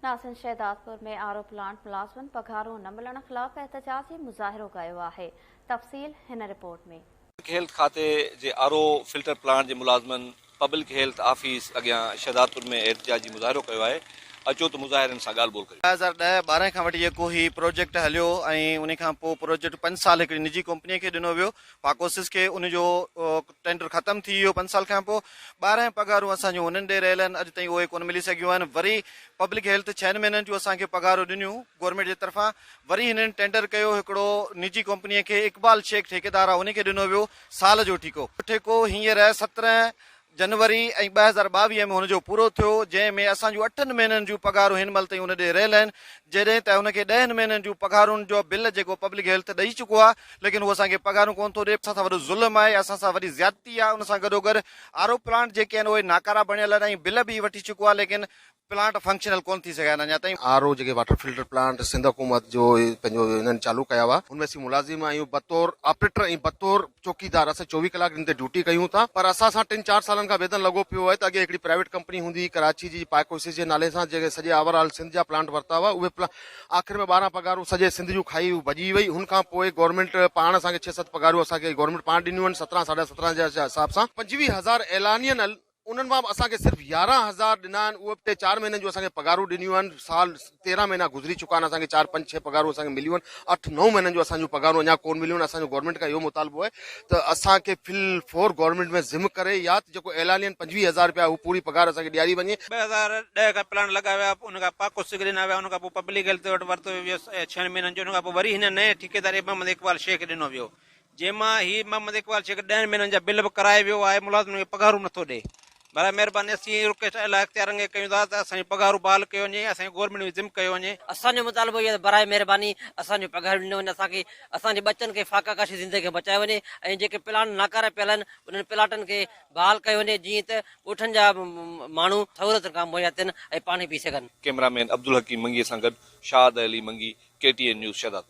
ناسين Shahdadpur ۾ R O plant ملازمن پگهارون نه ملڻ خلاف احتجاجي مظاهرو ڪيو آهي، تفصيل هن رپورٽ ۾. پبلڪ هيلٿ کاتي جي آر او فلٽر پلانٽ جي ملازمن پبلڪ هيلٿ آفيس اڳيان شهدادپور ۾ احتجاجي مظاهرو ڪيو آهي، اچو ته مظاهرين سان ڳالهه ٻولهه ڪريون. ٻه هزار ڏهه ٻارهن کان وٺي جيڪو هي پروجيڪٽ هليو ۽ ان کان پوء پروجيڪٽ پنج سال هڪڙي نجي ڪمپني کي ڏنو ويو فاڪوسس کي ان جو ٽينڊر ختم ٿي ويو پنج سال کانپو ٻارهن پگهارون اسان جون انهن ڏي رهيل آهن اڄ تائين اهي ڪونه ملي سگهيون آهن وري پبلڪ هيلٿ ڇهن مهينن جون اسان کي پگهارون ڏنيون گورنمينٽ جي طرفان وري هنن ٽينڊر ڪيو هڪڙو نجي ڪمپني کي اقبال شيخ ٺيڪيدار آهي ان کي ڏنو ويو سال جو ٺيڪو ٺيڪو هينئر سترهن جنوري ۽ ٻه هزار ٻاويهه ۾ هن جو پورو ٿيو جنهن ۾ اسان جون اٺن مهينن جون پگهارون هن مهل تائين ان ڏي رهيل آهن جڏهن ته ان کي ڏهن مهينن جون پگهارن جو بل جيڪو پبلڪ هيلٿ ڏئي چڪو آهي ليڪن هو اسان کي پگهارون ڪونه ٿو ڏئي اسان سان وڏو ظلم آهي اسان سان وڏي زيادتي آهي ان سان گڏوگڏ آر او پلانٽ جيڪي آهن اهي ناڪارا بڻيل آهن ۽ بل به هي وٺي چڪو آهي ليڪن پلانٽ فنڪشنل ڪونه ٿي سگهيا آهن اڃا تائين. آر او جيڪي واٽر فلٽر پلانٽ سنڌ حڪومت جو پنهنجو هنن چالو ڪيا هئا ان ۾ اسين ملازم آهيون بطور آپريٽر ۽ بطور چوڪيدار اسان چوويهه ڪلاڪ ڏينهن تي ڊيوٽي ڪيون ٿا پر اسان سان ٽن چار سالن کان ويڌن لڳو پيو آهي ته اڳي هڪڙي پرائيويٽ ڪمپني هوندي هئي ڪراچي جي پائيڪوسس جي نالي سان جنهن سڄي آور آل سنڌ جا پلانٽ ورتا هئا اهي پلانٽ آخر ۾ ٻارهن پگهارون سڄي سنڌ جون کائي هو ڀڄي وئي هن کان پوء گورنمينٽ پاڻ اسان کي ڇهه ست پگهارون اسان کي گورنمينٽ پاڻ ڏنيون آهن سترهن ساڍا سترهن جي حساب سان پنجويهه هزار اعلانيا انهن مان به اسان کي صرف يارهن هزار ڏنا آهن اهي به ٽي چار مهينن جون اسان کي پگهارون ڏنيون آهن سال تيرهن مهينا گذري چڪا آهن اسان کي چار پنج ڇهه پگهارون اسان کي مليون آهن اٺ نو مهينن جون اسان جون پگهارون اڃا ڪونه مليون آهن اسان جو گورنمينٽ کان اهو مطالبو آهي ته اسان کي في الفور گورنمينٽ ۾ ضم ڪري يا ته جيڪو اعلانين پنجويهه هزار رپيا اهو پوري پگهار اسان کي ڏياري وڃي. ٻه هزار ڏهه کان پلانٽ لڳايا ويا ان کان پاڪو سگهه ڏنا ويا ان کان پوء پبلڪ هيلٿ وٽ ورتو ويو ڇهن مهينن جو ان کان پوء وري هن نئين ٺيڪيدار ايم محمد اقبال شيخ کي ڏنو ويو جنهن مان هي محمد اقبال شيخ ڏهن مهينن جا بل به ڪرائي ويو آهي، ملازمن کي پگهارون نه ٿو ڏئي، برائي مهرباني اسين هي رڪويسٽ اعليٰ اختيارن کي ڪيون ٿا ته اسان جون پگهارون بحال ڪيون وڃي ۽ اسان کي گورنمينٽ ۾ ضم ڪيو وڃي. اسان جو مطالبو هي آهي ته برائي مهرباني اسان جون پگهارون ڏنيون وڃن، اسان کي اسان جي ٻچن کي فاقه ڪاشي زندگي کان بچايو وڃي ۽ جيڪي پلاٽ ناڪارا پيل آهن انهن پلاٽن کي بحال ڪيو وڃي جيئن ته ڳوٺن جا ماڻهو سهولتن کان مهيا ٿين ۽ پاڻي پي سگهن. ڪئميرا مين عبدالحڪيم منگيء سان گڏ Shahid Ali Mangi, K T N news Shahdadpur.